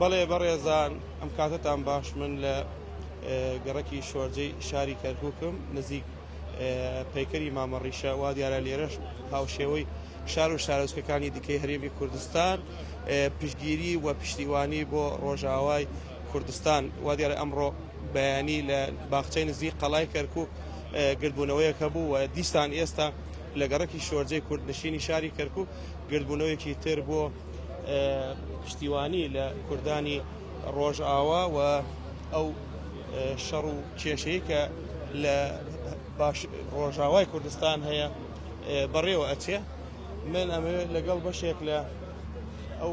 بەڵێ بەڕێزان ئەم کاتتان باش من لە گەڕکی شۆرجەی شاری کەرکووکم نزیک پەیکەری مامەڕیشە وا دیارە لێرەش هاوشێوەی شار و شارۆچکەکانی دیکەی هەرێمی کوردستان پشگیری و پشتیوانی بۆ ڕۆژاوای کوردستان، وا دیارە ئەمڕۆ بەیانی لە باخچەی نزیک قەڵای کەرکووک گردبوونەوەیەک هەبوو و دیسان ئێستا لە گەڕەکی شۆرجەی کوردنشینی شاری کەرکووک گردبوونەوەیەکی تر بۆ پشتیوانی لە کوردانی ڕۆژئاوا و ئەو شەڕ و کێشەی کە لە باش ڕۆژاوای کوردستان هەیە بەڕێوە ئەچێ من ئەمەوێت لەگەڵ بەشێک لە ئەو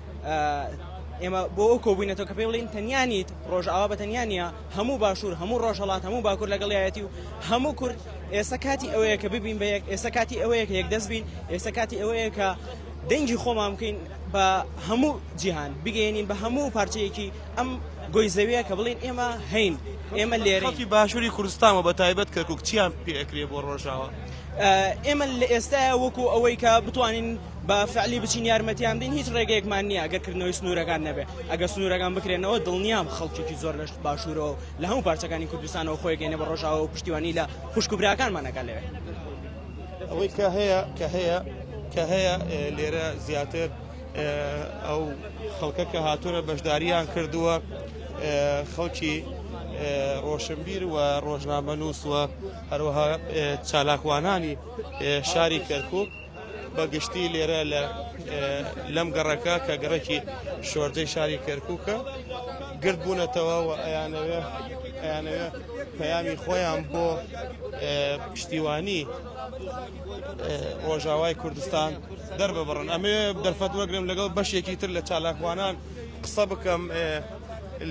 ئێمە بۆ ئەو کۆبووینەتەوە کە پێ بڵین تەنیا نیت ڕۆژئاوا بە تەنیا نیە هەموو باشوور هەموو ڕۆژهڵات هەموو باکوور لەگەڵایەتی و هەموو کورد ئێستا کاتی ئەوەیە کە ببین بە یەک ئێستا کاتی ئەوەیە کە یەک دەست بین ئێستا کاتی ئەوەیە کە دەنگی خۆمان بکەین بە هەموو جیهان بگەێنین بە هەموو پارچەیەکی ئەم گۆی زەویە کە بڵین ئێمە هەین ئێمە لێرەی باشووری کوردستانەوە بە تایبەت کەرکک چیان پێکرێ بۆ ڕۆژاوە ئێمە لە ئێستاە وەکو ئەوەی کە بتوانین بە فعلی بچین یارمەتیان بدەین هیچ ڕێگەیەکمان نییە ئەگەر کردنەوەی سنوورەکان نەبێت ئەگەر سنوورەکان بکرێنەوە دڵنیام خەڵکێکی زۆر لە باشوورەوە و لە هەموو پارچەکانی کوردستانەوە خۆی گەینە بە ڕۆژاوە و پشتیوانی لە خوشک و براکانمان ئەکا لەوێ ئەوەی کە هەیە کە هەیە کە هەیە لێرە زیاتر ئەو خەڵکە کە هاتوورە بەشداریان کردووە خەڵکی ڕۆشنبیر و ڕۆژنامە نووسوە هەروەها چالاکوانانی شاری کەرکک بەگشتی لێرە لە لەم گەڕەکە کە گەڕەکی شۆردەی شاری کەرکووکە گرد بوونەتەوە و ئەیانەوێ ئەیانەوێ پەیامی خۆیان بۆ پشتیوانی ڕۆژاوای کوردستان دەرببڕن ئەمێ دەرفەت وەگرم لەگەڵ بەشێکی تر لە چالاکوانان قسە بکەم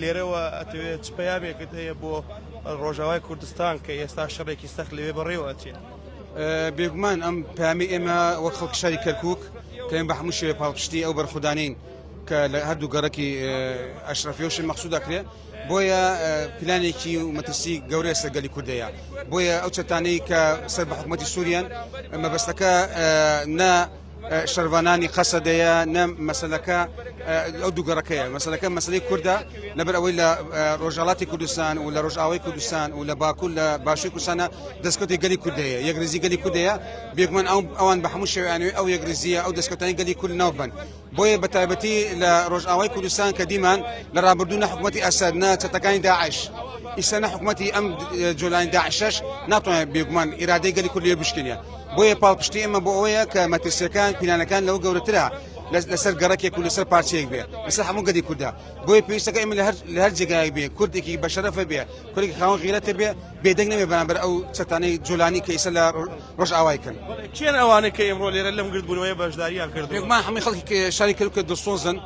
لێرەوە ئەتوێت پەیامێکت هەیە بۆ ڕۆژاوای کوردستان کە ئێستا شەڕێکی سەخت لەوێ بەڕێوەچێت. بێگومان ئەم پامی ئێمە وەک خەڵک شاری کەرکک کەم بە هەموو شێ پاڵپشتی ئەو بەرخودانین کە لە هەردوو گەڕکی ئەشرەفیۆشن مەخصود دەکرێت بۆیە پلانێکی و مەترسی گەورە سەرگەلی کوردەیە بۆیە ئەو چەتانەی کە سەر بە حکوومەتتی سووریان مەبەستەکە نە شەرڤانانی قەسەدەیە نە مەسلەکە ئەو دوو گەڕەکەیە مەسلەکە مەسلی کووردە لەبەر ئەوەی لە ڕۆژهڵاتی کوردستان و لە ڕۆژئاوای کوردستان و لە باکوور لە باشی کوردستانە دەستکەوتی گەلی کوردەیە یەکریزی گەلی کوردەیە بێگومان ئەو ئەوان بە هەموو شێوانوی ئەو یەکریزیە ئەو دەستکەوتانی گەلی کورد ناوبن بۆیە بە تایبەتی لە ڕۆژئاوای کوردستان کە دیمان لە ڕابردوو نە حکوومەتتی ئەسەر نە چەتەکانی داعش ئیسەنە حکوومەتتی ئەم جۆلانی داعشش ناتوانێت بێگومان ئیرادەی گەلی کوردی بشکنە بۆیە پاڵپشتی ئێمە بۆ ئەوەیە کە مەترسیەکان پیلانەکان لەو گەورەترە لەسەر گەڕکێک و لەسەر پارچەیەک بێ لەسەر هەموو گەدی کووردا بۆی پێویستەکە ئمە لە هەر جێگای بێ کوردێکی بەشەرەفە بێ کوردێک خاوەن غیرەتە بێ بێدەنگ نەبێ بەرامبەر ئەو چەتانەی جولانی کە ئیسە لە ڕۆژ ئاوای کرد کێن ئەوانە کە ئێمڕۆ لێرە لەم گردبوونەوەی بەشداریان کرد ما هەمووی خەڵکی شاری کردکە دڵسۆزن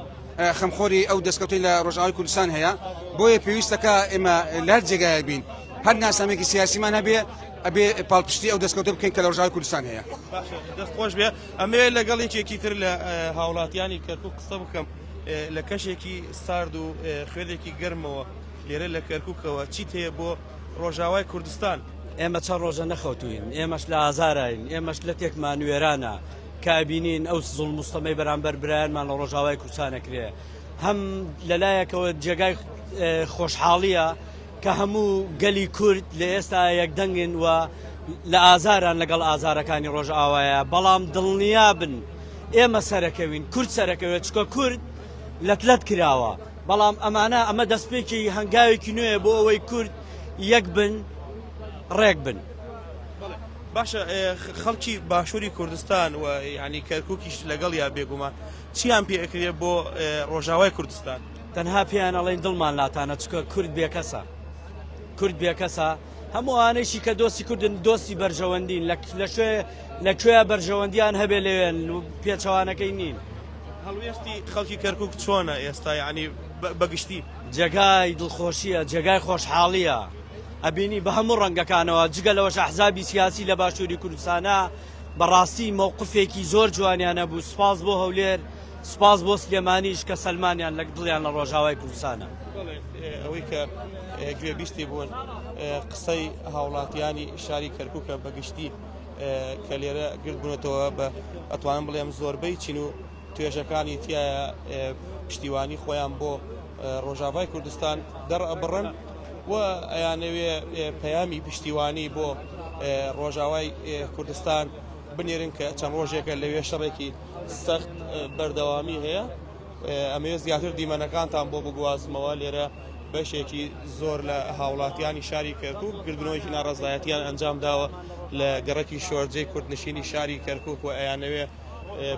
خەمخۆری ئەو دەستکەوتی لە ڕۆژاوی کوردستان هەیە بۆیە پێویستەکە ئێمە لە هەر جێگایە بین هەر ناسامێکی سیاسیمان هەبێ ئەبێ پاڵپشتی ئەو دەستکەوتە بکەین کە لە ڕژاوی کوردستان هەیە دەستخۆش بێ ئەمێ لەگەڵ یەکێکی تر لە هاوڵاتیانی کەرکک قسە بکەم لە کەشێکی سارد و خوێنێکی گەرمەوە لێرە لە کەرککەوە چیت هەیە بۆ ڕۆژاوای کوردستان ئێمە چە ڕۆژە نەخەوتوین ئێمەش لە ئازاراین ئێمەش لە تێکمان وێرانە کابینین ئەو زڵ مستەمەی بەرامبەر برایانمان لە ڕۆژاوای کوردستانەکرێ هەم لەلایەکەوە جێگای خۆشحاڵیە کە هەموو گەلی کورد لە ئێستا یەک دەنگن و لە ئازاران لەگەڵ ئازارەکانی ڕۆژئاوایە، بەڵام دڵنیابن ئێمە سەرەکەوین، کورد سەرەکەوێت، چکە کورد لەت لەت کراوە، بەڵام ئەمانە ئەمە دەستپێکی هەنگاوێکی نوێیە بۆ ئەوەی کورد یەک بن ڕێک بن. باشە خەڵکی باشوری کوردستان و یانی کەرکوکیش لەگەڵیا بێگومان چیان پێ ئەکرێ بۆ ڕۆژاوای کوردستان؟ تەنها پێیان ئەڵێن دڵمان لاتانە چکە کورد بێکەسە کورد بێکەسە هەموو ئانەیشی کە دۆستی کوردن دۆستی بەرژەوەندین لە شوێ لە کوێ بەرژەوەندیان هەبێ لەوێن و پێچەوانەکەی نین هەڵوێستی خەڵکی کەرکک چۆنە ئێستا ینی بەگشتی جێگای دڵخۆشیە جێگای خۆشحاڵیە ئەبینی بە هەموو ڕەنگەکانەوە جگە لەوەش حزابی سیاسی لە باشووری کوردستانە بەڕاستی مەوقفێکی زۆر جوانیانە بوو سپاس بۆ هەولێر سوپاس بۆ سلێمانیش کە سەلمانیان لە دڵیان لە ڕۆژاوای کوردستانە. بەڵێ ئەوەی کە گوێبیستی بوون قسەی هاوڵاتیانی شاری کەرکوکە بە گشتی کە لێرە گرد بوونەتەوە بە ئەتوانم بڵێم زۆربەی چین و توێژەکانی تایە پشتیوانی خۆیان بۆ ڕۆژاوای کوردستان دەڕئەبڕن و ئەیانەوێ پەیامی پشتیوانی بۆ ڕۆژاوای کوردستان بنێرن کە چەند ڕۆژێکە لەوێ شەڕێکی سەخت بەردەوامی هەیە ئەمەوێت زیاتر دیمەنەکانتان بۆ بگوازمەوە لێرە بەشێکی زۆر لە هاوڵاتیانی شاری کەرکک گردنەوەی ناڕزایەتیان ئەنجام داوە لە گەڕکی شۆرجەی کوردنشینی شاری کەرکک و ئەیانەوێ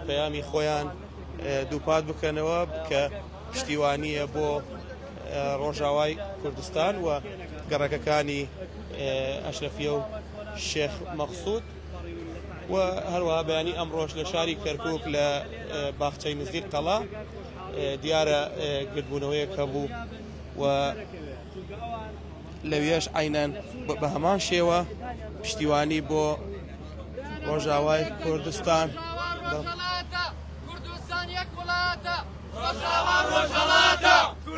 پەیامی خۆیان دووپات بکەنەوە کە پشتیوانیە بۆ ڕۆژاوای کوردستان و گەڕەکەکانی ئەشرەفیە و شێخ مەخسوود و هەروەها بەیانی ئەمڕۆش لە شاری کەرکک لە باخچەی نزیک قەڵا دیارە گردبوونەوەیەک هەبوو و لەوێش عینەن بە هەمان شێوە پشتیوانی بۆ ڕۆژاوای کوردستان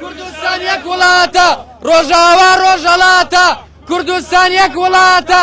کوردستان یەک وڵاتە ڕۆژاوا ڕۆژەڵاتە کوردستان یەک وڵاتە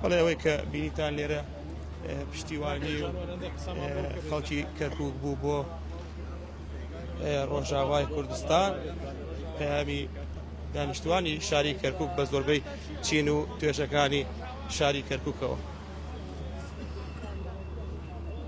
بەڵێ ئەوەی کە بینیتان لێرە پشتیوانی خەڵکی کەرکک بوو بۆ ڕۆژاوای کوردستان پەیامی دانیشتوانی شاری کەرکک بە زۆربەی چین و توێژەکانی شاری کەرکوکەوە.